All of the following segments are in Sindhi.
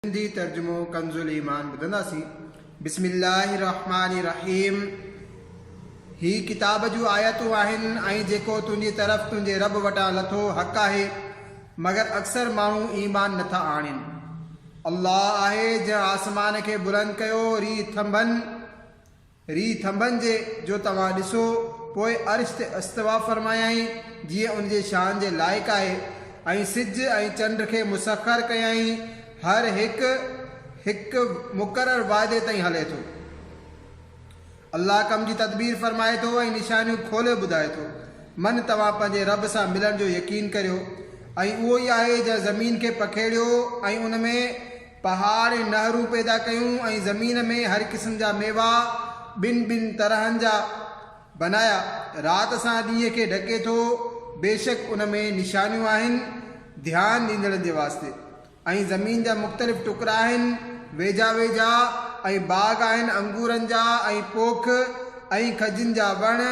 سنڌي ترجمو ڪنز الايمان ٻڌنداسين بسم الله الرحمٰن الرحيم هي ڪتاب جون آيتون آهن ۽ جيڪو تنهنجي طرف تنهنجي رب وٽان لٿو حق آهي مگر اڪثر ماڻهو ايمان نٿا آڻين الله آهي جنهن آسمان کي بلند ڪيو ري ٿنڀن ري ٿنڀن جي جو توهان ڏسو، پوء عرش تي استوا فرمايائين، جيئن ان جي شان جي لائق آهي، ۽ سج ۽ چنڊ کي مسخر ڪيائين، هر هڪ هڪ مقرر واعدي تائين هلي ٿو. الله ڪم جي تدبير فرمائي ٿو ۽ نشانيون کولي ٻڌائي ٿو. من توهان پنهنجي رب سان ملڻ جو يقين ڪريو، ۽ اهو ئي آهي جنهن زمين کي پکيڙيو ۽ ان ۾ پهاڙ ۽ نهرون پيدا ڪيون ۽ زمين ۾ هر قسم جا ميوا ٻن ٻن طرحن جا بنايا. رات سان ڏينهن کي ڍڪي ٿو، بيشڪ ان ۾ نشانيون آهن ڌيان ڏيندڙن جي واسطي. ۽ زمين جا مختلف ٽڪرا آهن ويجها ويجها ۽ باغ آهن انگورن جا ۽ پوک ۽ کجين جا وڻ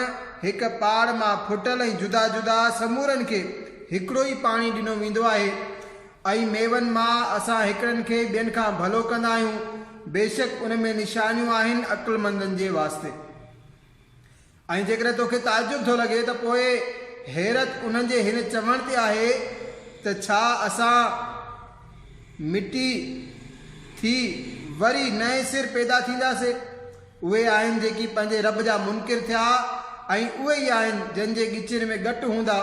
هڪ پاڙ مان ڦٽل ۽ جدا جدا سمورن کي هڪڙو ئي پاڻي ڏنو ويندو آهي. ۽ ميون مان اسان هڪڙن کي ٻين کان ڀلو ڪندا آهيون، بيشڪ ان ۾ نشانيون آهن عقلمندن جي واسطي. ۽ جيڪڏهن توکي تعجب ٿو لڳي ته پوء حيرت انهن جي هن چوڻ تي آهي ته ڇا اسان مٽي ٿي وري نئين سر پيدا ٿينداسين؟ اهي آهن جيڪي پنهنجي رب جا منڪر ٿيا ۽ اهي ئي آهن جن جي ڳچين ۾ ڳٽ هوندا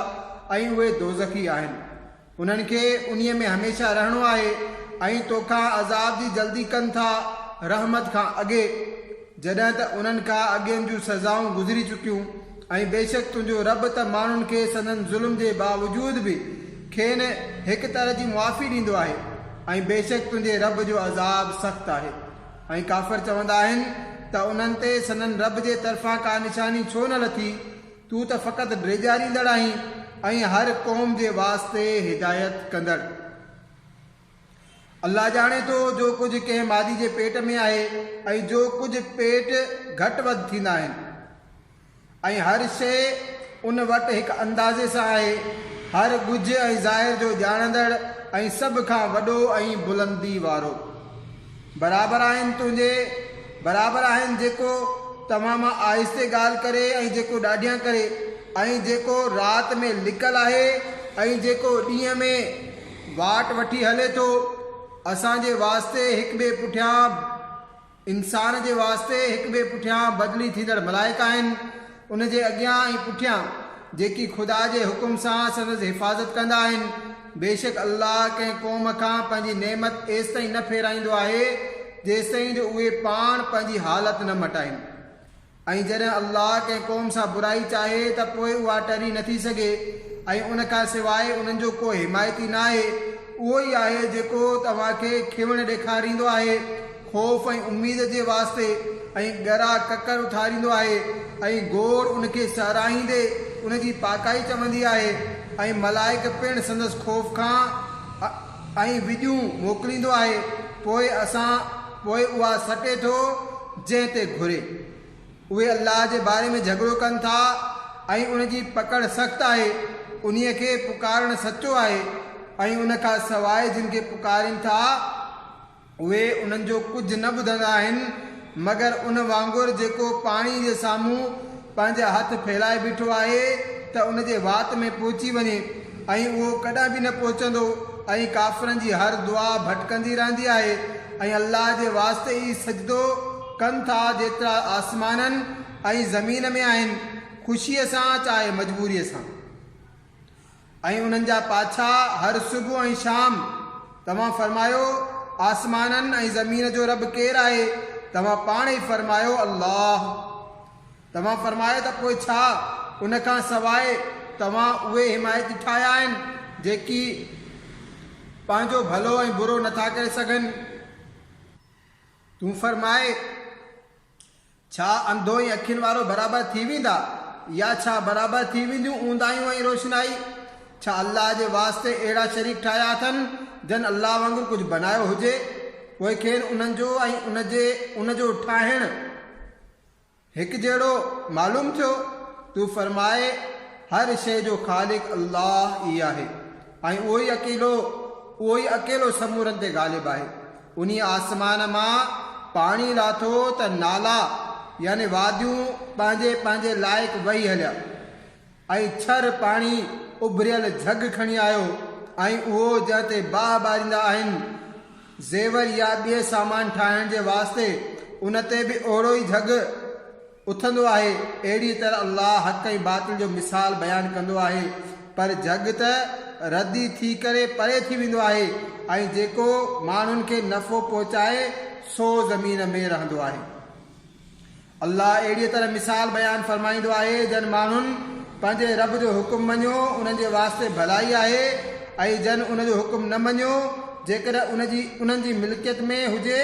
۽ اهي دوزخي آهن. انهن کي انهيء ۾ هميشه رهڻو آهي ۽ توکان عذاب جي جلدي ڪن ٿا، رحمت کان اڳي، جڏهن ته انهن کان اڳين جون سزائون گذري چڪيون، ۽ بيشڪ تنهنجو رب ته ماڻهن کي سندن ظلم جي باوجود به کين هڪ طرح جي معافي ڏيندو آهي، ۽ بيشڪ تنهنجي رب جو عذاب سخت آهي. ۽ ڪافر چوندا آهن ته انهن تي سندن رب جي طرفان ڪا نشاني ڇو نه لٿي؟ تون ته فقط ڊيڄاريندڙ آهين ۽ هر قوم جي واسطي هدايت ڪندڙ. الله ڄاڻي ٿو جو ڪجهه ڪنهن مادي جي پيٽ ۾ آهي ۽ جو ڪجهه پيٽ گهٽ وڌ ٿيندا آهن ۽ هر شيء ان وٽ هڪ اندازي سان آهي، هر ڳجهه ۽ ظاهر جو ڄاڻندڙ ۽ سڀ کان وڏو ۽ بلندي وارو. برابر آهن تنهنجي برابر آهن جيڪو توهان مان آهستي ڳالهه ڪري ۽ جيڪو ڏاڍيان ڪري ۽ جيڪو رات ۾ لڪل آهي ۽ جيڪو ڏينهن ۾ واٽ وٺي هلي ٿو اسان جي واسطي هڪ ٻئي پٺيان انسان جي واسطي هڪ ٻئي پٺيان بدلي ٿيندڙ ملائڪ آهن. ان جي اڳيان ۽ پٺيان جيڪي خدا جي حڪم سان سندس حفاظت ڪندا آهن، بيشڪ الله ڪنهن قوم کان پنهنجي نعمت ايستائين نه ڦيرائيندو آهي جيستائين جو اهي پاڻ پنهنجي حالت نه مٽائين ۽ جڏهن الله ڪنهن قوم سان برائي چاهي ته پوء اها ٽري نٿي سگهي ۽ ان کان سواء انهن جو ڪو حمايتي ناهي اهو ئي آهي جيڪو توهان کي کيوڻ ڏيکاريندو آهي. خوف ۽ اميد جي واسطي ۽ ڳرا ڪڪر اٿاريندو آهي ۽ گور ان کي ساراهيندي ان جي پاڪائي چوندي آهي ۽ ملائڪ پڻ سندس خوف کان ۽ وڄون موڪليندو آهي پوء اسان پوء اها سٽي ٿو جنهن تي گهري. اهي الله جي باري ۾ جهڳڙو ڪن ٿا ۽ ان جي پڪڙ سخت آهي، انهي کي پڪارڻ سچو آهي ۽ ان کان سواء جن کي پڪارين ٿا اهي انهن جو ڪجهه نه ٻڌندا آهن مگر ان وانگر جيڪو پاڻي جي سامهون پنهنجا هٿ ڦهلائي بيٺو آهي ته ان جي وات ۾ پهچي وڃي ۽ اهو ڪڏهن به نه پهچندو ۽ ڪافرن جي هر دعا ڀٽڪندي رهندي آهي ۽ الله جي واسطي ئي سجدو ڪن ٿا جيترا آسمانن ۽ زمين ۾ آهن خوشيء سان چاهي مجبوريء سان. ۽ انهن جا پاڇا هر صبح ۽ شام. توهان فرمايو، آسمانن ۽ زمين جو رب ڪير آهي؟ توهان پاڻ ئي فرمايو، الله. توهان فرمايو ته پوء ڇا ان کان سواء توهان اهي حمايتي ٺاهيا آهن جيڪي پنهنجو ڀلو ۽ برو نٿا ڪري سگهن؟ تون فرماء، ڇا انڌو ۽ اکين وارو برابر ٿي ويندا يا ڇا برابر ٿي وينديون اونداهيون ۽ روشنائي؟ ڇا الله جي واسطي اهڙا شريڪ ٺاهيا اٿن جن الله وانگر ڪجهه بنايو هجي پوء کين انهن جو ۽ ان جي ان جو ٺاهڻ هڪجهڙو معلوم ٿيو؟ تون فرماء، هر شيء جو خالق الله ئي آهي ۽ اهو ئي اڪيلو، اهو ئي اڪيلو سمورن تي غالب آهي. انهيء آسمان مان پاڻي لاٿو ته نالا يعني واديون پنهنجي پنهنجي لائق وهي هليا ۽ ڇر پاڻي اڀريل جهڳ کڻي آيو ۽ اهو جنهن تي باهه ٻاريندا آهن زيور يا ٻئي سامان ٺاهڻ جي واسطي ان تي به اهڙو ئي جهڳ اٿندو آهي، اهڙيء طرح الله حق ۽ باطل جو مثال بيان ڪندو آهي، پر جهڳ ته ردي ٿي ڪري پري ٿي ويندو آهي، ۽ جيڪو ماڻهن کي نفعو پهچائي سو زمين ۾ رهندو آهي. الله اهڙيء طرح مثال بيان فرمائيندو آهي، جن ماڻهن پنهنجي رب جو حڪم مڃيو، انهن جي واسطي ڀلائي آهي، ۽ جن ان جو حڪم نه مڃيو، جيڪڏهن ان جي انهن جي ملڪيت ۾ هجي،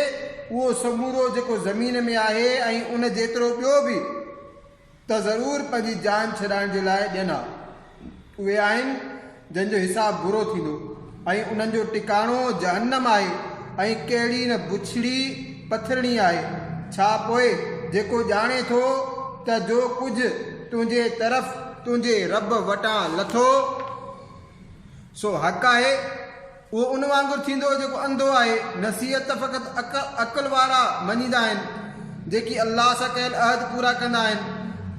اهو سمورو جيڪو زمين ۾ آهي ۽ ان جيترو ٻيو به ته ضرور پنهنجي جان ڇڏائڻ جي لاء ڏين ها. اهي آهن جن جو حساب برو ٿيندو ۽ انهن جو ٽڪاڻو جهنم آهي ۽ ڪهڙي نه بڇڙي پٿرڻي آهي. ڇا پوء جيڪو ڄاڻي ٿو ته جو ڪجهه تنهنجي طرف تنهنجي رب وٽان لٿو سو حق آهي؟ اهو ان وانگر ٿيندو جيڪو انڌو آهي، نصيحت ته فقط عقل وارا مڃيندا آهن، جيڪي الله سان ڪيل عهد پورا ڪندا آهن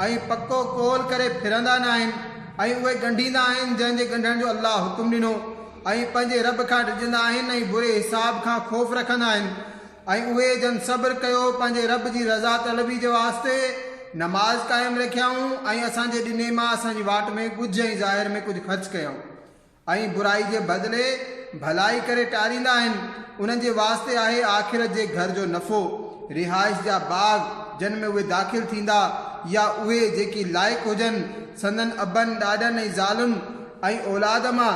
۽ پڪو قول ڪري ڦرندا ناهن ۽ اهي ڳنڍيندا آهن جنهن جي ڳنڍڻ جو الله حڪم ڏنو ۽ پنهنجي رب کان ڊڄندا آهن ۽ بري حساب کان خوف رکندا آهن ۽ اهي جن صبر ڪيو پنهنجي رب جي رضا طلبي جي واسطي نماز قائم رکيائون ۽ اسان جي ڏني مان اسان جي واٽ ۾ ڳجهه ۽ ظاهر ۾ ڪجهه خرچ ڪيائون. ۽ برائي جي بدلي ڀلائي ڪري ٽاريندا آهن، انهن جي واسطي آهي آخرت جي گهر جو نفعو، رهائش جا باغ جن ۾ اهي داخل ٿيندا، يا اهي جيڪي لائق هجن، سندن ابن، ڏاڏن ۽ زالن ۽ اولاد مان،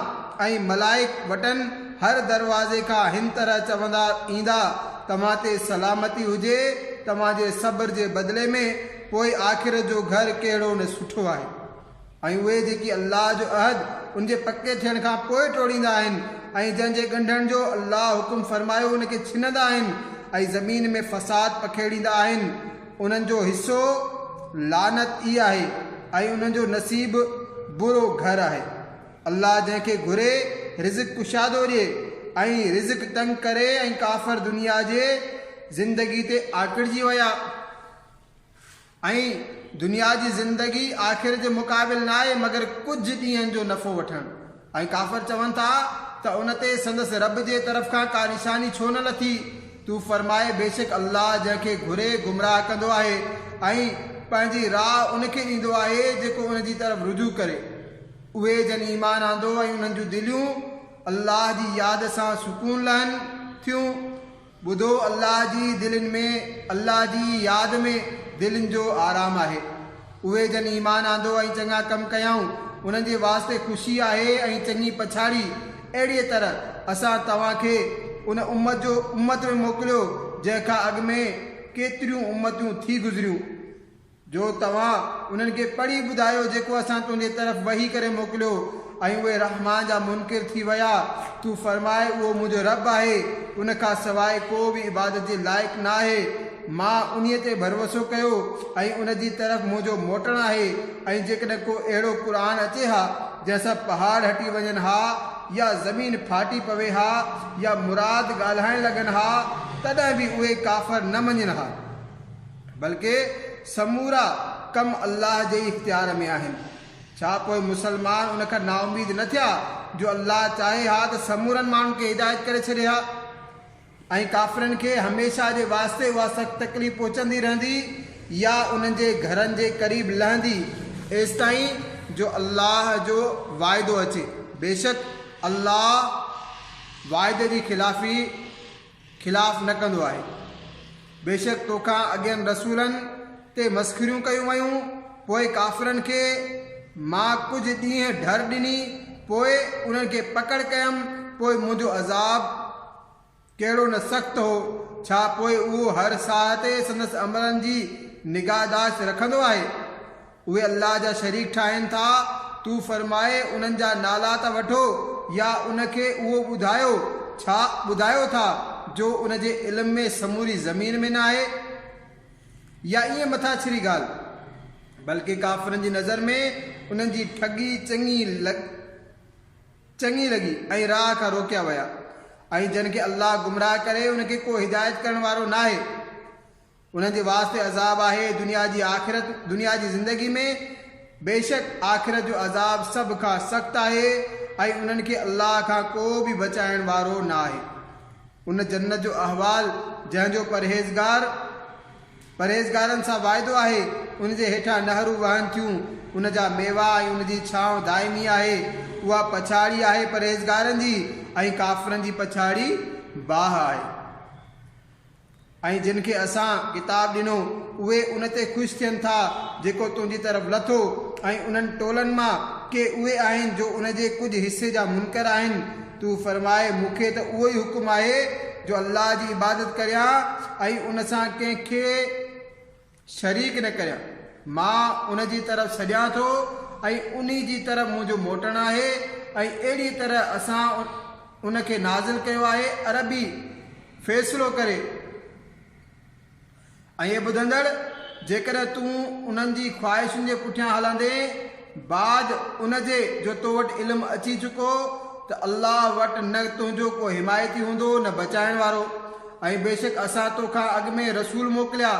۽ ملائڪ وٽن هر دروازي کان هن طرح چوندا ايندا، توهان تي سلامتي هجي توهان جي صبر جي بدلي ۾، پوء آخرت جو گهر ڪهڙو نه سٺو آهي. ۽ اهي جيڪي الله جو عهد ان جي پڪي ٿيڻ کان پوء ٽوڙيندا آهن ۽ جنهن جي ڳنڍڻ جو الله حڪم فرمايو ان کي ڇنندا آهن ۽ زمين ۾ فساد پکيڙيندا آهن انهن جو حصو لعنت ئي آهي ۽ انهن جو نصيب برو گهر آهي الله جنهن کي گهري رزق ڪشادو ڏئي ۽ رزق تنگ ڪري ۽ ڪافر دنيا جي زندگي تي آڪڙجي ويا ۽ دنيا جي زندگي آخر جي مقابل ناهي مگر ڪجهه ڏينهن جو نفعو وٺڻ ۽ ڪافر چون ٿا ته ان تي سندس رب جي طرف کان ڪا نشاني ڇو نه لٿي؟ تون فرماء بيشڪ الله جنهن کي گهري گمراهه ڪندو آهي ۽ پنهنجي راء ان کي ڏيندو آهي جيڪو ان جي طرف رجوع ڪري اهي جن ايمان آندو ۽ انهن جون دليون الله جي ياد سان سڪون لهن ٿيون. ٻڌو الله جي دلين ۾ الله جي ياد ۾ دلين جو آرام آهي. اهي جن ايمان آندو ۽ چڱا ڪم ڪيائون انهن جي واسطي خوشي آهي ۽ چڱي پڇاڙي اهڙيء طرح اسان توهان کي ان امت جو امت ۾ موڪليو جنهن کان اڳ ۾ ڪيتريون امتون ٿي گذريون. جو توهان انهن کي پڙهي ٻڌايو جيڪو اسان تنهنجي طرف وحي ڪري موڪليو ۽ اهي رحمان جا منڪر ٿي ويا، تون فرماء اهو منهنجو رب آهي، ان کان سواء ڪو به عبادت جي لائق ناهي، مان انهي تي ڀروسو ڪيو ۽ ان جي طرف منهنجو موٽڻ آهي ۽ جيڪڏهن ڪو اهڙو قرآن اچي ها جنهن سان پهاڙ هٽي وڃن ها يا زمين ڦاٽي پوي ها يا مراد ڳالهائڻ لڳن ها تڏهن به اهي ڪافر نه مڃين ها. بلڪه سمورا ڪم الله جي ئي اختيار ۾ آهن، ڇا پوء مسلمان ان کان نااميد نه ٿيا جو الله چاهي ها ته سمورن ماڻهن کي هدايت ڪري ڇڏي ها ۽ ڪافرن کي هميشه جي واسطي اها سخت تڪليف پهچندي رهندي يا انهن جي گهرن جي قريب لهندي ايستائين جو الله جو واعدو اچي، بيشڪ الله وعدي جي خلافي. خلاف نه ڪندو آهي. بيشڪ توکان اڳين رسولن تي مسخريون ڪيون ويون، پوء ڪافرن کي مان ڪجهه ڏينهن ڍر ڏني، پوء انهن کي پڪڙ ڪيم، پوء منهنجو عذاب ڪهڙو نه سخت هو، ڇا پوء اهو هر ساهه تي سندس عملن جي نگاهداشت رکندو آهي؟ اهي الله جا شريڪ ٺاهين ٿا، تون فرماء انهن جا نالا ته وٺو يا ان کي اهو ٻڌايو، ڇا ٻڌايو ٿا جو ان جي علم ۾ سموري زمين ۾ ناهي؟ يا ائين مٿاڇري ڳالهه؟ بلڪه ڪافرن جي نظر ۾ انهن جي ٺڳي چڱي چڱي لڳي ۽ راهه کان روڪيا ويا. ۽ جنهن کي الله گمراهه ڪري ان کي ڪو هدايت ڪرڻ وارو ناهي. انهن جي واسطي عذاب آهي دنيا جي آخرت، دنيا جي زندگي، ۾ بيشڪ آخرت جو عذاب سڀ کان سخت آهي ۽ انهن کي الله کان ڪو به بچائڻ وارو ناهي. ان جنت جو احوال جنهن جو پرهيزگار، پرهيزگارن، سان واعدو آهي، ان جي هيٺان نهرون وهن ٿيون، ان جا ميوا ۽ ان جي ڇانو دائمي آهي، اها پڇاڙي آهي پرهيزگارن جي ۽ ڪافرن جي پڇاڙي باهه آهي. ۽ جن کي اسان، ڪتاب، ڏنو، اهي ان تي خوش ٿين ٿا جيڪو تنهنجي طرف لٿو، ۽ انهن ٽولن مان ڪي اهي آهن جو ان جي ڪجهه حصي جا منڪر آهن، تون فرماء، مون کي ته اهو ئي حڪم آهي جو الله جي عبادت ڪريان ۽ ان سان ڪنهن کي شريڪ نه ڪريان. مان ان جي طرف سڏيان ٿو ۽ انهي جي طرف منهنجو موٽڻ آهي ۽ اهڙي طرح اسان ان کي نازل ڪيو آهي عربي فيصلو ڪري ۽ اي ٻڌندڙ! جيڪڏهن تون انهن جي خواهشن جي پٺيان هلندين، بعد ان جي جو تو وٽ علم اچي چڪو ته الله وٽ نه تنهنجو ڪو حمايتي هوندو نه بچائڻ وارو ۽ بيشڪ اسان تو کان اڳ ۾ رسول موڪليا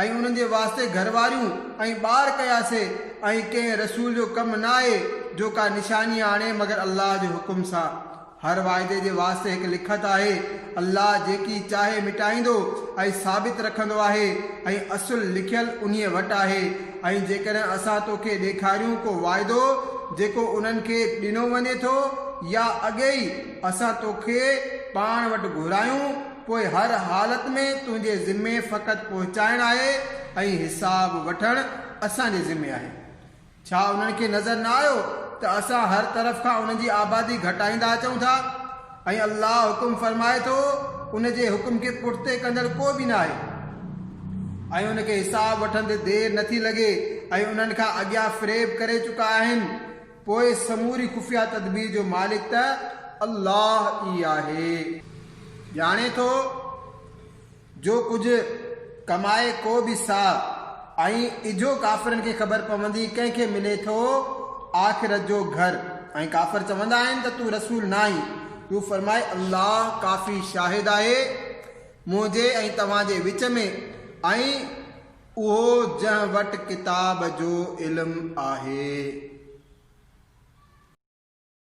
۽ انهن جي واسطي گهر واريون ۽ ٻار ڪياسي ۽ ڪنهن رسول جو ڪم نه آهي جو ڪا نشاني آڻي مگر الله جي حڪم سان هر واعدي جي واسطي هڪ لکت آهي. الله جيڪي چاهي مٽائيندو ۽ ثابت رکندو آهي ۽ اصل لکيل انهيء وٽ آهي ۽ جيڪڏهن اسان تو کي ڏيکاريون ڪو واعدو جيڪو انهن کي ڏنو وڃي ٿو يا اڳي ئي اسان تو کي پاڻ وٽ گهرايون پوء هر حالت ۾ تنهنجي ذمي فقط پهچائڻ آهي ۽ حساب وٺڻ اسان جي ذمي آهي. ڇا انهن کي نظر نه آيو ته اسان هر طرف کان انهن جي آبادي گهٽائيندا اچون ٿا ۽ الله حڪم فرمائي ٿو، ان جي حڪم کي پٺتي ڪندڙ ڪو به ناهي ۽ ان کي حساب وٺندي دير نٿي لڳي ۽ انهن کان اڳيان فريب ڪري چڪا آهن پوء سموري خفيه تدبير جو مالڪ ته الله ئي آهي. ڄاڻي ٿو. جو ڪجهه ڪمائي ڪو به ساهه ۽ اجهو ڪافرن کي خبر پوندي ڪنهن کي ملي ٿو آخرت جو گهر ۽ ڪافر چوندا آهن ته تون رسول ناهين تون فرماء الله ڪافي شاهد آهي منهنجي ۽ توهان جي وچ ۾ ۽ اهو جنهن وٽ ڪتاب جو علم آهي.